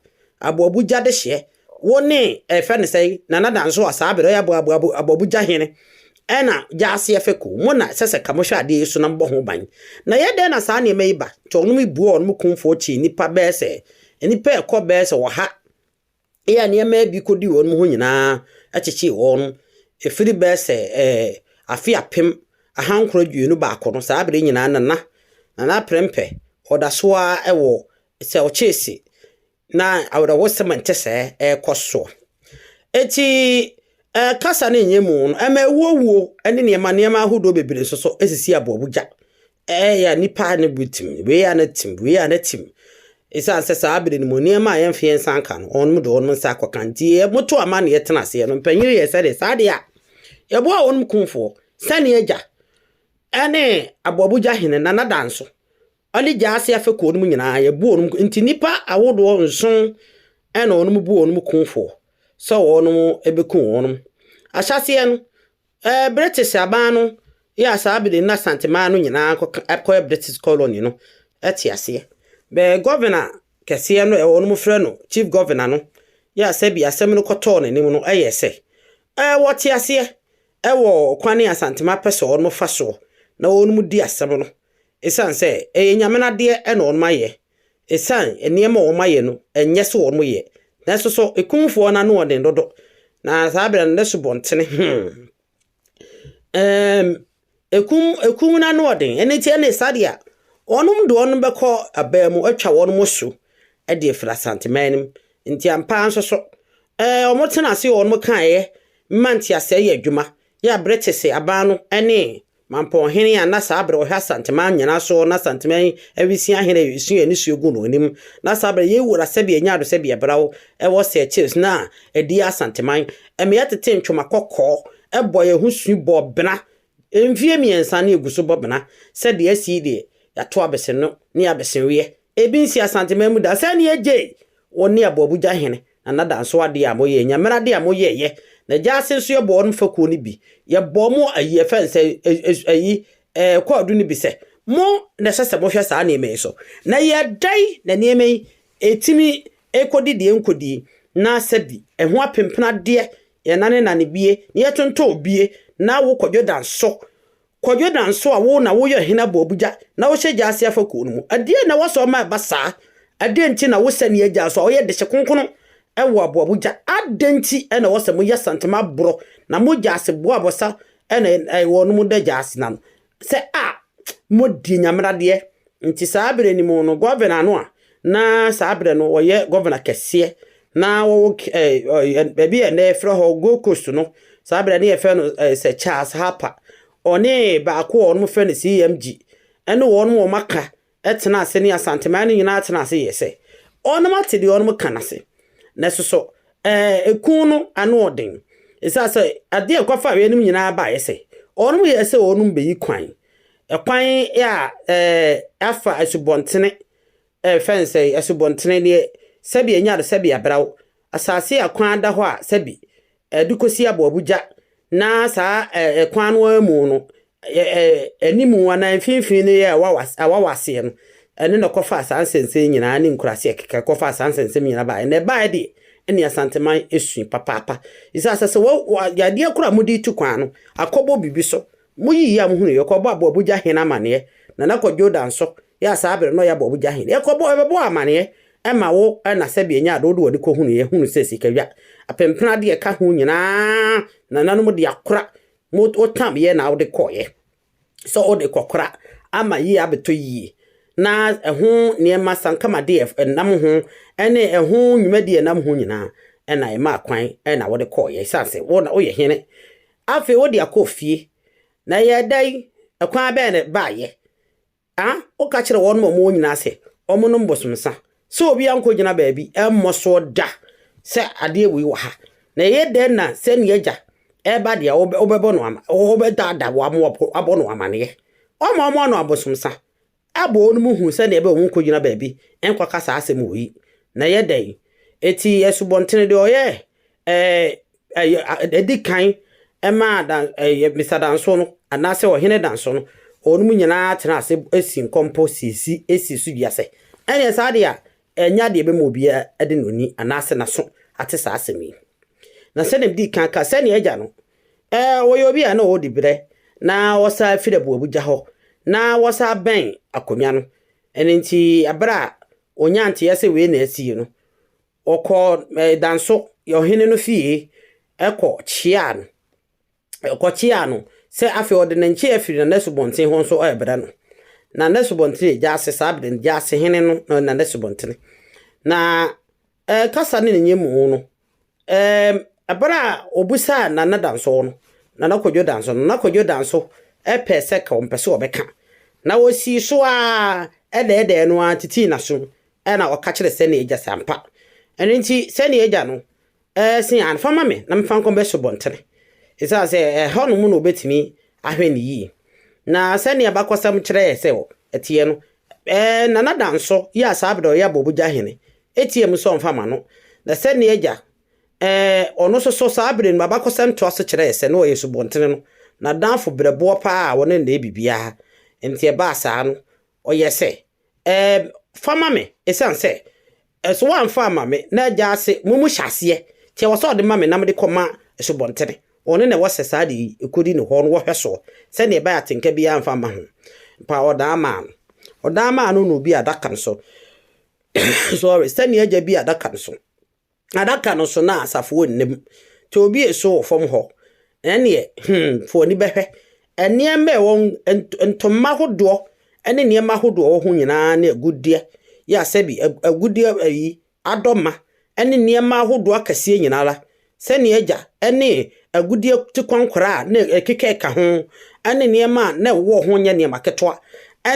aboabu gya dehyeɛ wo ne ɛfɛ ne sɛn nana danso a saa berɛ ɔyɛ aboabu aboabu gya hene ɛna gya aseɛ fɛku mo na ɛsɛ sɛ ka mo hwɛ adeɛ yi so na mobɔ ho ban na ɛyɛ dɛn na saa nneɛma yi ba nti ɔnom buo ɔnom kumfoɔ kyi nnipa bɛɛ sɛ nnipa ɛkɔ bɛɛ sɛ ɔha Eyi a nneɛma a bi kodi wɔn ho nyinaa kyekyee wɔn firi bɛyɛ sɛ ɛɛ afe apem ahankron aduonu baako no, saa bere nyinaa na na Nana Prempeh ɔda so ara wɔ sɛ ɔkyese na awerɛhosɛm a ɛte sɛɛ ɛrekɔ so. Enti ɛɛ kasa ne nyɛmu no, ɛma awuowuo ne nneɛma nneɛma ahodoɔ bebree nso so sisi aboabogya. Ɛyɛ nnipa a ne bo tsim, wei a ne tsim, wei a ne tsim. Esiane sɛ saa bere no mu nneɛma a yɛmfa yɛn nsa nka no, wɔn de wɔn nsa akɔka nti, wɔto amanneɛ tena aseɛ no. Mpanyin yɛɛ sɛdeɛ saa deɛ a, yɛboaa wɔn kumfoɔ sɛnea agya ne aboabogya hene Nana Danso ɔne gyaa ase afɛ kuo no mu nyinaa yɛbu wɔn nti nnipa ahodoɔ nson ɛna wɔn bu wɔn kumfoɔ sɛ wɔn bɛku wɔn. Ahyɛseɛ no, Ɛɛ, British aban no yɛ a saa bere no na Asanteman no nyinaa kɔka ɛkɔyɛ British colony no te aseɛ. Bɛɛ Governor kɛseɛ no ɛwɔ wɔnom frɛ no Chief Governor no yɛ a sɛbi asɛm no kɔtɔɔ n'anim no ɛyɛɛ sɛ ɛɛ wɔte aseɛ ɛwɔ kwane a Asanteman pɛ sɛ wɔnom fa soɔ na wɔnom di asɛm no ɛsiane sɛ ɛyɛ Nyame no adeɛ ɛna wɔnom ayɛ. Esiane nneɛma a wɔayɛ no nyɛ sɛ wɔyɛ, nanso so Kumfoɔ no ano den dodo, na saa berɛ no ne subɔntene ho ɛɛm ɛkum ɛkum no ano den, ɛno nti ɛne saa deɛ a wɔnom de wɔn bɛkɔ abaa mu atwa wɔn mo so de afiri Asanteman no mu. Nti ampa ara nso so ɛɛ wɔtena ase wɔn kaeɛ ma nteaseɛ yɛ adwuma Yɛ a bere kye se aban no ne Mampɔn hene a na saa bere ɔhwɛ Asanteman nyena so na Asanteman awisia hene a esua ne sua gu no anim na saa bere yɛ wura sɛbea nya do sɛbea braw wɔ sɛ chills na adiɛ Asanteman mmea tete ntwoma kɔkɔɔ bɔ yɛ ho sui bɔ bena mfie mmiɛnsa ne egu so bɔ bena sɛ deɛ asi deɛ yato abese no ne abese weɛ ebi nsi Asanteman mu da sɛ ne yɛ gyei wɔ ne aboabugya hene Na n'adanso adeɛ a moyɛ, Nyame adeɛ a moyɛɛyɛ, na gyaa ase nso yɛbɔɔ no fakuo no bi, yɛbɔɔ mo ayi ɛfɛ n sɛ ɛs ayi ɛɛ kwaadu no bi sɛ, mo na ɛsɛ sɛ mohwɛ saa nneɛma yi so. Na yɛɛdai na nneɛma yi ɛtumi ɛkɔdi deɛ nkɔdie, na sɛ bi ɛho apempena deɛ, yɛnanenane bie, na yɛtonton bie, na wo kɔ Jordan so Kwadwo Danso a wo na woyɛ Ɔhene Aboabogya na wohyɛ gya ase afa kuo no mu. Ɛdeɛn na woasɔ ma ɛba saa? Ɛdeɛn nti na wo sɛneɛ gya nso a ɔyɛ dehye kronkron wɔ Aboabogya? Adɛn nti na ɛwɔ sɛ moyɛ santima aborɔ na mo gya ase boɔ abɔsa na wɔn mo da gya ase na no sɛ a modie nyameradeɛ nti saa berɛ no mu no Governor no a Na saa berɛ no ɔyɛ gɔvena kɛseɛ na wɔwɔ baabi a ɛnnɛ yɛfrɛ hɔ Gold Coast no, saa berɛ no na yɛfrɛ no Sir Charles Harper. Ɔne baako a wɔfrɛ no CMG ɛne wɔn a wɔaka tena ase ne Asanteman no nyinaa tena ase yɛɛ sɛ wɔn ate deɛ wɔn ka no ase. Na soso ɛku no ano ɔden. Ɛsiane sɛ adeɛ a ɛkɔfa yeinom nyinaa baeɛ sɛ wɔn yɛɛ sɛ wɔn bɛyi kwan Ɛkwan a afa asubɔntene fɛn sɛ asubɔntene deɛ sɛbi ɛnyɛ ade sɛbi aberaw asase a kwan da hɔ a sɛbi ɛde kɔsi aboabogya na saa ɛkwan no ara mu no anim anaa mfimfini no yɛ awawaseɛ no ɛne na ɛkɔfaa saa nsɛnsɛm nyinaa ne nkuraase ɛkeka ɛkɔfaa saa nsɛnsɛm nyinaa baeɛ na ɛbaeɛ deɛ ɛne asanteman ɛsui papaapa ɛsɛ asɛ sɛ yadeɛ koro a mode tu kwan no akɔbɔ biribi so Muyi yam hunu yɛkɔbɔ aboabogya hen amaneɛ Nana kɔ Jordan so yɛ a saa bere no ɔyɛ aboabogya hen Yɛkɔbɔ yɛbɛbɔ amaneɛ ma wo ɛna sɛbi ɛnyɛ ade wode w'ani kɔhunu yɛ hunu sɛ sikadwa Apempena adeɛ ɛka ho nyinaa nananom de akora mo wo tam yɛ na wode kɔeɛ sɛ wode kɔkora ama yie abɛtɔ yie na ɛho nneɛma sankama deɛ ɛnam ho ɛne ɛho nnwuma deɛ ɛnam ho nyinaa ɛna ɛmaa kwan ɛna wode kɔeɛ ɛsiane sɛ wo na woyɛ hene Afei wode akɔ fie. Na ɛyɛɛ dɛn? Ɛkwan bɛn na ɛbaeɛ? A Woka kyerɛɛ wɔnom a wɔwɔ nyinaa sɛ wɔnnom bosomsa, sɛ obiara nkɔgyina baabi mmɔ soɔ da sɛ adeɛ wei wɔ ha. Na ɛyɛ dɛn na sɛnea agya ɛreba deɛ wobɛbɔ no ama, wobɛdaadaa wɔn ama wɔabɔ no amaneɛ? Woama wɔannom abosomsa? aboo no mu hu sɛnea ɛbɛyɛ a wɔnkogyina baabi nkɔka saa asɛm wɔ yi, na ɛyɛ dɛn? Enti Asubɔnten de ɔyɛ ɛɛ ɛdi kan maa dan ɛyɛ Mr. Danso no anaasɛ Ɔhene Danso no, wɔn nyinaa tena ase si nkɔmpɔ siesie sii so dua sɛ ɛneɛ saa deɛ a Ɛnyɛ ade a ɛbɛma obiara de n'ani anaasɛ n'aso ate saa asɛm yi. Na sɛnea mede kan kaa, sɛnea agya no, ɛɛ, ɔyɛ obi a na ɔwɔ diberɛ, na ɔsan firi abuabugya hɔ, na ɔsan bɛn akonnwa no. Ɛno nti, berɛ a ɔnyaa nteɛ sɛ wei na asie no, ɔkɔɔ Danso ɔhene no fie kɔ kyeaa no. kɔkyeaa no sɛ afei ɔde ne nkyea afiri Nana Asubɔnten hɔ nso rebrɛ no. Nana Asubɔnten yɛ Gyaase saa bere no, Gyaase hene no na Nana Asubɔntene. Na ɛɛ kasa ne ne nyɛmu no, ɛɛm ɛbere a obusaa Nana Danso no, Nana Kwadwo Danso, Nana Kwadwo Danso ɛpɛɛ sɛ ka ɔmpɛ sɛ ɔbɛka. Na osii so ara ɛdɛɛdɛɛ no ara titii n'aso ɛna ɔka kyerɛ sɛnea agya sɛ ampa. Ɛno nti sɛnea agya no Ɛɛ, se aane, fa ma me na memfa nkɔbɛ subɔntene, esiane sɛ ɛhɔnom na wɔbɛtumi ahwɛ no yie. Na sɛdeɛ abakɔsɛm kyerɛ yɛn sɛ ɛteɛ no, ɛɛ, Nana Danso yi a saa berɛ ɔyɛ Abɔbogya hene, teaam sɛ ɔmfa mma no. Na sɛdeɛ agya, ɛɛ, ɔno nso so saa berɛ no mu abakɔsɛm toa so kyerɛ yɛn sɛ na ɔyɛ subɔntene no n'adamfo berɛboɔ pa ara a ɔne no na ɛyɛ biribiara. Enti ɛbaa saa no, Ɔyɛ sɛ, Ɛɛ, fa ma me, esiane sɛ, ɛ, so woamfa amma me na agya ase mo mu hyɛaseɛ, nti ɛwɔ sɛ ɔde ma me na mede kɔma asubɔntene. Ɔno na ɛwɔ sɛ saa adeɛ yi, ɛkɔdi ne hɔ no wɔhwɛ soɔ, sɛdeɛ ɛbɛyɛ atenka biara mfa mma ho. Mpa ɔdan maa no. Ɔdan maa no no bi adaka no so. Sorry, sɛdeɛ agya bi adaka no so. Adaka no so na asafo wɔ nnam. Tɔ obi a eso wɔ fam hɔ. Ɛnneɛ, hmm, fa w'ani bɛhwɛ. Nneɛma a ɛwɔ hɔ, ntoma ahodoɔ ne nneɛma ahodoɔ a ɛwɔ ho nyinaa ne agudeɛ yɛ asɛ bi, agudeɛ ayi, adɔma ne nneɛma ahodoɔ akɛseɛ nyinaa ara, sɛdeɛ agya ne agudeɛ tikwankora a na ɛkeka ka ho ne nneɛma a na ɛwɔ ho nyɛ nneɛma ketewa,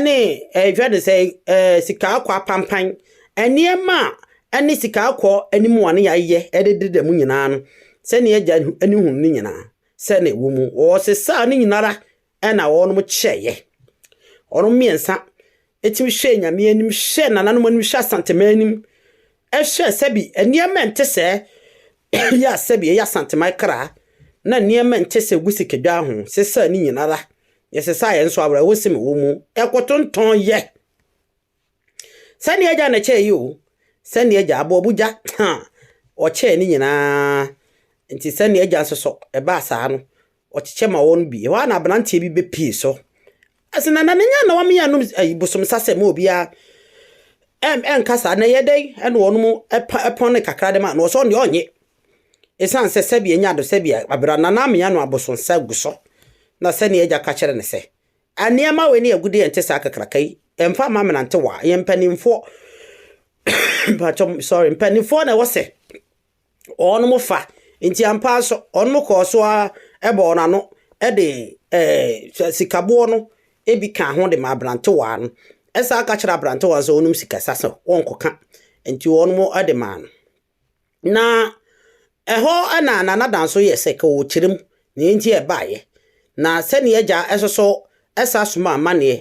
ne ɛhwɛ de sɛ sika akɔ apampan, nneɛma a ne sikaakɔɔ anim a ne yayɛ de deda mu nyinaa no, sɛ ne agya ani hunu ne nyinaa, sɛ na ɛwɔ mu. Wɔsesaa ne nyinara na wɔnom kyɛeɛ. Wɔnom mmiɛnsa tumi hwɛɛ Nyame anim, hwɛɛ nananom anim, hwɛɛ Asantema anim, hwɛɛ sɛbi nneɛma ɛnte sɛ yɛ a sɛbi ɛyɛ Asantema kra, na nneɛma ɛnte sɛ gu sikadwa ho, sesaa ne nyinara. Yɛsesaa yɛn nso awerɛhosem wɔ mu, ɛkotontɔn yɛ. Sɛnea agya na kyɛe yi o, sɛnea agya, aboɔbo gya, ha, ɔkyɛe ne nyinaa. Nti sɛnea agya nso so, ɛbaa saa no, ɔkyekyɛ ma wɔn bi. Ɛhɔ a na aberanteɛ bi bɛpie so. Ɛsɛ na na ne nya na wɔn yɛ anom ayi bosom sasɛ ma obiara ɛm ɛnka saa na ɛyɛ dɛn ɛna wɔn mu ɛpa ɛpɔn ne kakra de ma na ɔsɔ deɛ ɔnye. Esan sɛ sɛbi enya do sɛbi abira na na amea no abosom sa gu so na sɛnea agya ka kyerɛ ne sɛ Nneɛma wei ne agudeɛ nte saa kakraka yi mfa mma mmerantewa yɛn mpanimfoɔ mpakyɛ sorry mpanimfoɔ na ɛwɔ sɛ wɔn fa nti ampa nso wɔn kɔɔ so ara ɛbɔ wɔn ano ɛde ɛɛ sikaboɔ no ebi ka ho de ma aberantewa no ɛsan ka kyerɛ aberantewa nso wɔn sikasa sɛ wɔn kɔka nti wɔn ɛde maa no. Na ɛhɔ na Nana nso yɛ sɛ ka ɔrekyerɛ mu nea enti a ɛbaeɛ, na sɛdeɛ agya nso so san somaa amanneɛ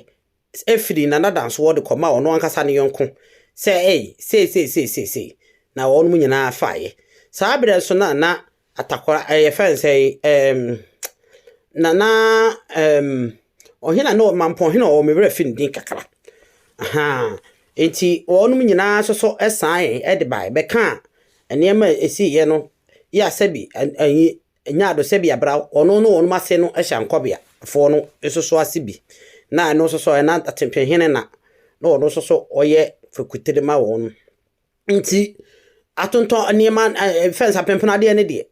firii Nana Dan soɔ de kɔmaa ɔno ankasa ne yɔnko sɛ ei, sei, sei, sei, sei, sei, na wɔnom nyinaa faeɛ. Saa berɛ nso no a na Atakwa eh, yɛfrɛ no sɛ um, nana um, ɔhena ne ɔmampɔn hena ɔwɔ me werɛ fi ne din kakra aha nti wɔnom nyinaa nso so ɛsan de bae bɛka nneɛma a ɛsiiɛ no yɛ asɛ bi anyi nyaado sɛ bi abra ɔno ne wɔnom ase no hyɛ nkɔbeafoɔ no nso so ase bi na ɛno nso so ɛna atempehene na na ɔno nso so ɔyɛ fekutire ma wɔn Nti atontɔn nneɛma ɛɛ fɛns apempem adeɛ no deɛ,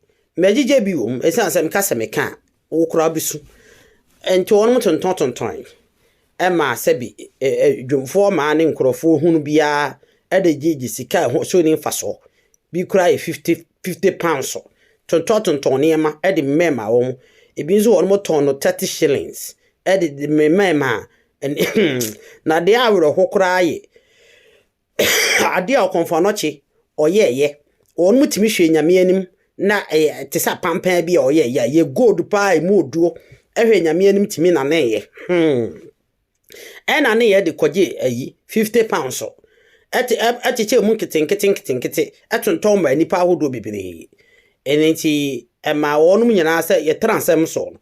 mɛgyegye bi wɔ mu ɛsiane sɛ meka sɛ meka a wo koraa wobɛsu. Nti wɔnom tontɔn tontɔn ɛma sɛbi dwomfoɔ mmaa ne nkorɔfoɔ hunu biara ɛde gyegye sika a ɛho so nni mfasoɔ. Bi koraa yɛ fifty fifty pounds tontɔn tontɔn nneɛma ɛde mɛɛma wɔn. Ɛbi nso wɔnom tɔn no thirty shillings ɛde memɛɛma. Na deɛ awerɛho koraa yɛ ade a ɔkɔmfoanɔkye ɔyɛɛyɛ, wɔnom tumi hwɛɛ Nyame anim na ɛyɛ te sɛ apanpaa bi a ɔyɛɛyɛ a ɛyɛ gold paa ɛmu oduo ɛhwɛɛ Nyame anim tumi naneeɛ hmm ɛnaneeɛ de kɔgyee ayi fifty pounds ɛte ɛkyekyɛɛ mu nketenkete nketenkete ɛtontɔn maa nnipa ahodoɔ bebree ɛno nti ɛmaa wɔnom nyinaa sɛ yɛtra nsɛm soɔ no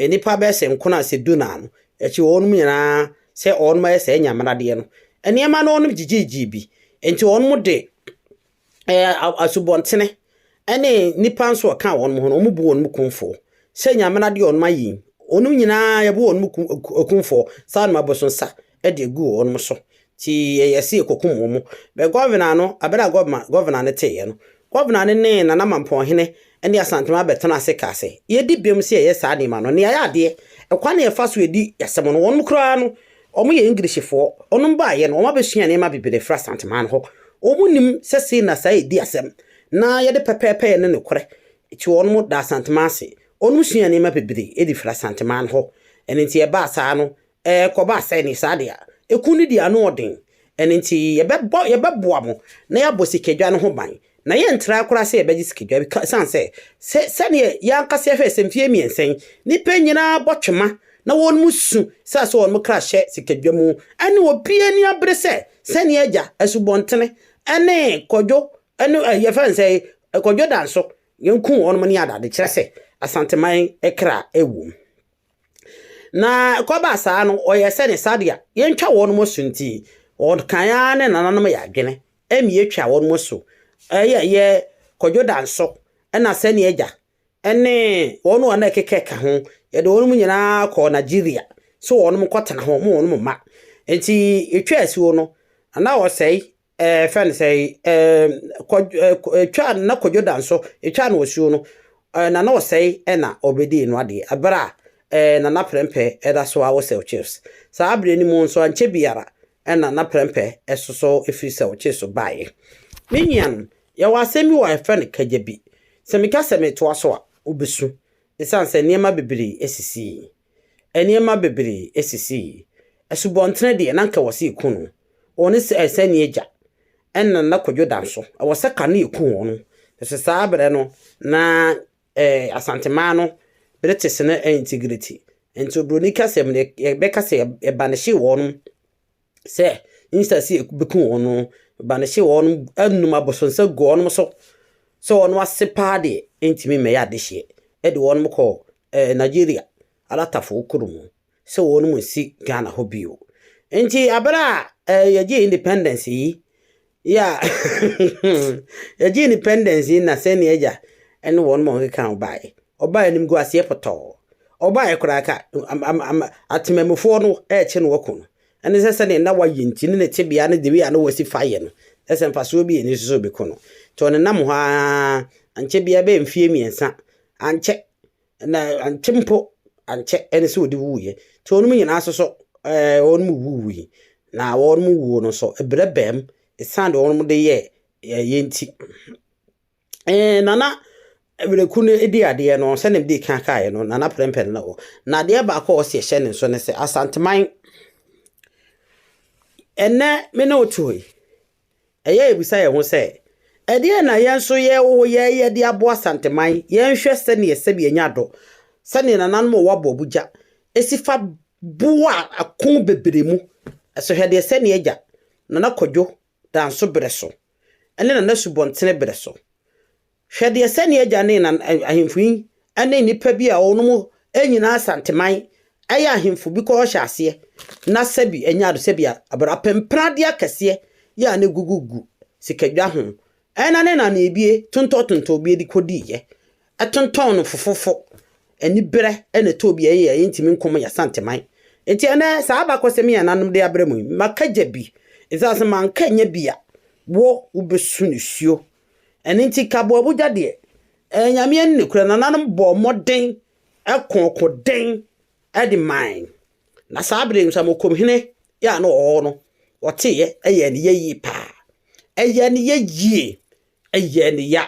nnipa bɛyɛ sɛ nkron a sɛ du naa no akyi wɔnom nyinaa sɛ wɔn ayɛ saa nyamenadeɛ no, nneɛma no wɔn gyigyiigyii bi, nti wɔn de ɛɛ asubɔntene ɛne nipa nso ɔka wɔn ho no, wɔn bu wɔn kumfoɔ sɛ nyamenadeɛ wɔn ayi, wɔn nyinaa yɛbu wɔn kumfoɔ saa wɔn abosonsa ɛde egu wɔn so, ti yɛyɛ se yɛkɔkum wɔn, bɛ gɔvena no abere a gɔvena no teeɛ no, Kɔbena ne ne Nana Mampɔnhene ne Asantema bɛtenaa ase kaa sɛ, Yɛadi bem sɛ yɛyɛ saa nneɛma no. Nea ɛyɛ adeɛ, ɛkwan a yɛfa so di asɛm no, wɔnom koraa no, wɔyɛ Englishfoɔ. Wɔnom baeɛ no, wɔabɛsua nneɛma bebree afiri Asantema no hɔ. Wɔnim sɛ sei na saa yɛdi asɛm, na yɛde pɛpɛɛpɛyɛ ne nokorɛ kye wɔnom da Asantema ase. Wɔnom suaa nneɛma bebree de firi Asantema no hɔ. Ɛno nti, ɛbaa saa no, Ɛkɔba sɛ ne saa de a, eku no di ano ɔden. Ɛno nti, yɛbɛbɔ, yɛbɛboa mo na yɛabɔ sikadwa no ho ban, na yɛntrae koraa sɛ yɛbɛgye sikadwa bi, esiane sɛ, sɛ, sɛdeɛ yɛn ankasa yɛhwɛɛ sɛ mfeɛ mmiɛnsa yi, nnipa nyinaa bɔ twema na wɔn su sɛ sɛ wɔn kra hyɛ sikadwa mu, ɛne obiara ani abere sɛ sɛdeɛ agya Asubɔntene ne Kwadwo ne, ɛ, yɛfrɛ no sɛn, Kwadwo Danso, yɛnkuu wɔn ne adade, kyerɛ sɛ, Asanteman kra wom. Na ɛkɔbaa saa no, ɔyɛɛ sɛ ne sadea yɛntwa wɔn mo so nti, ɔkan ara ne nananom yɛ adwene ɛne yɛtwa wɔn mo so ɛyɛ yɛ kɔdwo danso ɛna sɛne agya ɛne wɔn a na ɛkekɛ ka ho yɛde wɔn mo nyinaa kɔɔ Nigeria so wɔn mo kɔtena ho mo wɔn mo ma nti ɛtwa asuo no na ɔsɛe ɛɛ fɛn sɛ ɛɛ kɔ ɛtwa na kɔdwo da nso ɛtwa na ɔsuo no ɛɛ na na ɔsɛe ɛna ɔbɛdii no adeɛ ɛberɛ a ɛɛ na na prɛmpɛ ɛda so awo sɛw chips saa aberɛ no mu nso ankyɛ biara ɛna na prɛmpɛ ɛsoso ɛfiri sɛw chips baeɛ me nuanom yɛwɔ asɛm bi wɔ a yɛfrɛ no kagyabi sɛ meka sɛ metoa so a wobɛsu ɛsiane sɛ nneɛma bebree ɛsisii Nneɛma bebree sisii. Asubɔntene deɛ, na anka wɔsɛ yɛku no. Wɔn ne sɛ sɛnea agya ɛna na Kwadwo da nso, ɛwɔ sɛ ka no yɛku wɔn. Ɛfisɛ saa berɛ no, na eh, Asantemaa no British no integrity. Nti oburoni kasɛm no, yɛbɛka sɛ yɛbanehye wɔn. sɛ nhyira si bɛku wɔn no ba no hyɛ wɔn anom abosonsa gu wɔn so sɛ wɔn ase paa deɛ ɛntumi mmɛyɛ adehyeɛ ɛde wɔn kɔ ɛɛ Nigeria alatafoɔ kurom sɛ wɔn mu nsi Ghana hɔ bio nti abere a ɛɛ yɛgye independence yi Yeah Yɛgyee independence yi na sɛn yɛagya ne wɔn ma wɔkeka ho baeɛ. Ɔbaa animguaseɛ pɔtɔɔ. Ɔbaeɛ koraa ka am am am atemamufoɔ no rekye no aku no. Ɛne sɛ sɛdeɛ na wayɛ nti ne ne tebea ne the way a na wasi fa yɛ no kyerɛ sɛ mfasoɔ bi ɛni so sɛ ɔbɛku no. Nti ɔnenam hɔ ara ankyɛ biara ɛbɛyɛ mfeɛ mmiɛnsa ankyɛ Na ankyɛ mpo, ankyɛ ɛne sɛ ɔde wuiɛ. Nti wɔnom nyinaa nso so ɛɛ wɔnom wuwui. Na wɔnom wuo no nso, ɛberɛ baam ɛsiane deɛ wɔnom de yɛɛ ɛyɛ nti. Ɛɛ Nana Miraku no di adeɛ no, sɛdeɛ mede kan kaeɛ no, Nana Prɛmpɛ no wɔ. Na adeɛ baako a ɔsi ɛhyɛ ne nso ne sɛ, Asanteman, ɛnnɛ me ne wo te hɔ yi, Ɛyɛ a yebisa yɛn ho sɛ, 'Ɛdeɛn na yɛn nso yɛwɔ yɛyɛ de aboa Santeman? Yɛnhwɛ sɛdeɛ sɛbi anya dɔ, sɛdeɛ nananom a wɔwɔ aboabogya si fa boa ako bebree mu. So hwɛ deɛ sɛnea agya Nana Kwadwo Danso berɛ so ne Nana Subɔntene berɛ so Hwɛ deɛ sɛnea agya ne ɛna ahemfo yi ne nnipa bi a wɔnom nyinaa asanteman yɛ ahemfo bi kɔɔ hyɛ aseɛ na sɛbi ɛnyɛ ado sɛbi abere apempradeɛ akɛseɛ yɛ a ne gugu gu sikadwa ho ɛna ne na ne ebie tontɔ tontɔ bie de kɔdii yɛ ɛtontɔn no fofofo ɛni berɛ ɛna ɛtɔ bi ɛyɛ ɛyɛ ntumi nkɔm yɛ asanteman nti ɛnɛ saa abakɔsɛm yɛ nanom de abrɛ mu yi maka gya bi ɛsɛ asɛ manka nyɛ bi a wɔ wobɛsu ne suo Ɛno nti kaboabogya deɛ, ɛyɛ Nyame ani ne korɛ. Nananom bɔɔ mmɔden ko ɔko den de mae. Na saa bere no, Samokom hene yɛ a na ɔwɔ hɔ no, ɔteeɛ, ɛyɛɛ ne yɛ yie paa. Ɛyɛɛ ne yɛ yie, ɛyɛɛ ne ya.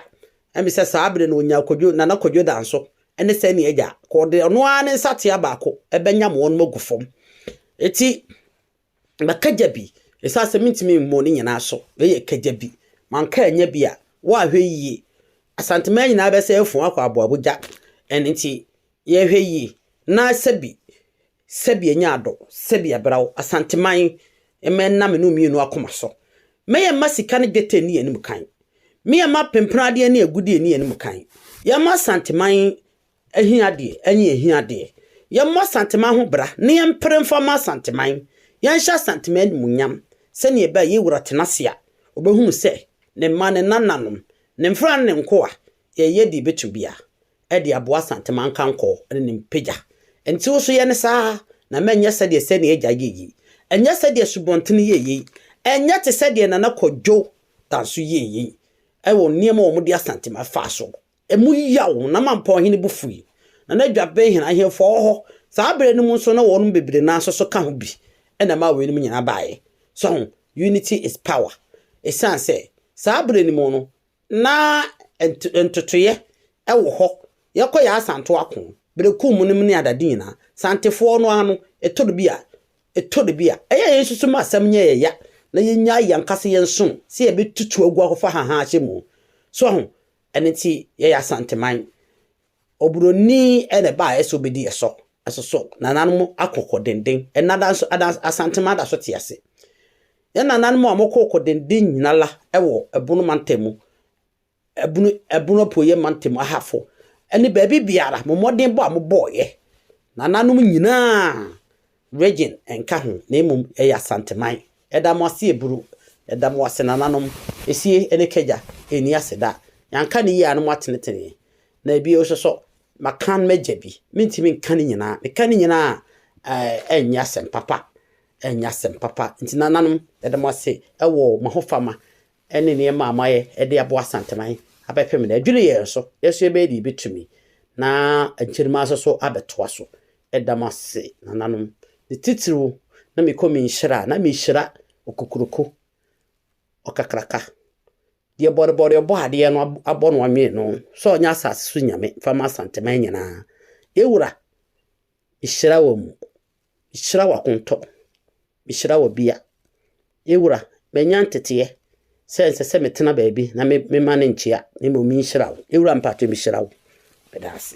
Ɛmi sɛ saa bere no ɔnyaa kwadwo, Nana Kwadwo Danso ne Sani Agya, ka ɔde ɔno ara ne nsatea baako bɛnyam wɔn agu fam. Eti, Ma kagya bi, Esiane sɛ mintumi mmɔ ne nyinaa so, wei yɛ kagya bi. Manka annya bi a, woahwɛ yie. Asanteman nyinaa bɛsɛ afuu akɔ aboabo gya. Ɛno nti, yɛhwɛ yie na sɛbi, sɛbi ɛnyɛ adɔ, sɛbi ɛbra wo. Asanteman, mma ɛnna me ne wo mmienu akoma so. Me yɛ mma sika ne dwetɛ nni yɛn anim kan. Me yɛ mma pempenadeɛ ne agudeɛ nni yɛn anim kan. Yɛn mma Asanteman Ahiadeɛ ne ahiadeɛ. Yɛmmɔ Asanteman ho bra na yɛmpere mfa mma Asanteman. Yɛnhyɛ Asanteman animuonyam. Sɛnea ɛbɛ a Yewura tena ase a, ɔbɛhunu sɛ ne mma, ne nananom, ne mfenaa ne ne nkoa, yɛreyɛ deɛ yɛbɛtumi biara de aboa Asanteman nkankɔɔ ne ne mpagya. Enti wo nso yɛ no saa ara, na mma ɛnyɛ sɛdeɛ sɛnea agya yɛɛ yi, ɛnyɛ sɛdeɛ Subɔntene yɛɛ yi, ɛnyɛ te sɛdeɛ Nana Kwadwo Danso yɛɛ yi wɔ nneɛma a wɔde Asanteman faa so Emu yaw, na Mampa ɔhene bo fui. Na na dwa bɛn hɛn ahemfo wɔ hɔ. Saa ber no mu nso na wɔnom bebree no ara nso so ka ho bi na ɛmaa weinom nyinaa baeɛ. So ho? Unity is power. Esiane sɛ saa ber no mu no na nto ntotoeɛ wɔ hɔ, yɛkɔ yɛ asanto ako, bereku mu nom ne adade nyinaa, Santefoɔ no ara no, ɛtɔ da bi a, ɛtɔ da bi a, ɛyɛ a yɛn nso so ma asɛm nyɛ yɛn ya, na yɛnyaa yɛn ankasa yɛn som sɛ yɛbɛtutu agu akɔfa hahaa ahyɛ mu. So ho? Ɛno nti yɛyɛ Asanteman. Oburoni na ɛbaa yɛ sɛ obedi yɛ sɔ. Ɛso so nananom ako kɔ denden. Ɛna da nso ada Asanteman da so te ase. Yɛ nananom a wɔkɔ kɔ denden nyina la wɔ ɛbono mantam mu, ɛbono ɛbono apueɛ mantam mu, ahafo, ɛne baabi biara mo mmɔdenbɔ a mobɔɔyɛ nananom nyinaa Region nka ho na mmom ɛyɛ Asanteman. Ɛda mo ase Aburo. Ɛda mo ase nananom. Esie ne Kagya. Ɛnni ase da. Yanka no yie a na mo atenetene. Na ebio nso so makan m'agya bi. Mentumi nka ne nyinaa. Meka ne nyinaa a ɛnyɛ asɛm papa. Ɛnyɛ asɛm papa. Nti nananom yɛda mo ase wɔ mo ahofama ne nneɛma a moayɛ de aboa Asanteman abɛpem no adwiri yɛn so, nanso yɛbɛyɛ deɛ yɛbɛtumi na akyiri no ara so abɛtoa so. Ɛda mo ase, nananom. Ne titiriw, na mekɔ me nhyira a, na mehyira okokuroko, ɔkakraka, deɛ bɔrebɔre ɔbɔ adeɛ no abɔ no anwene no, sɛ ɔnyɛ asase so nyame mfa ma Asanteman nyinaa. Yɛn wura! Mehyira wɔ mu. Mehyira wɔ akontɔ. Mehyira wɔ bia. Me wura, manya nteteɛ sɛ ɛnsɛ sɛ metena baabi na me mma no nkyea, na mmom menhyira wo. Me wura mpakyɛ mehyira wo. Meda ase.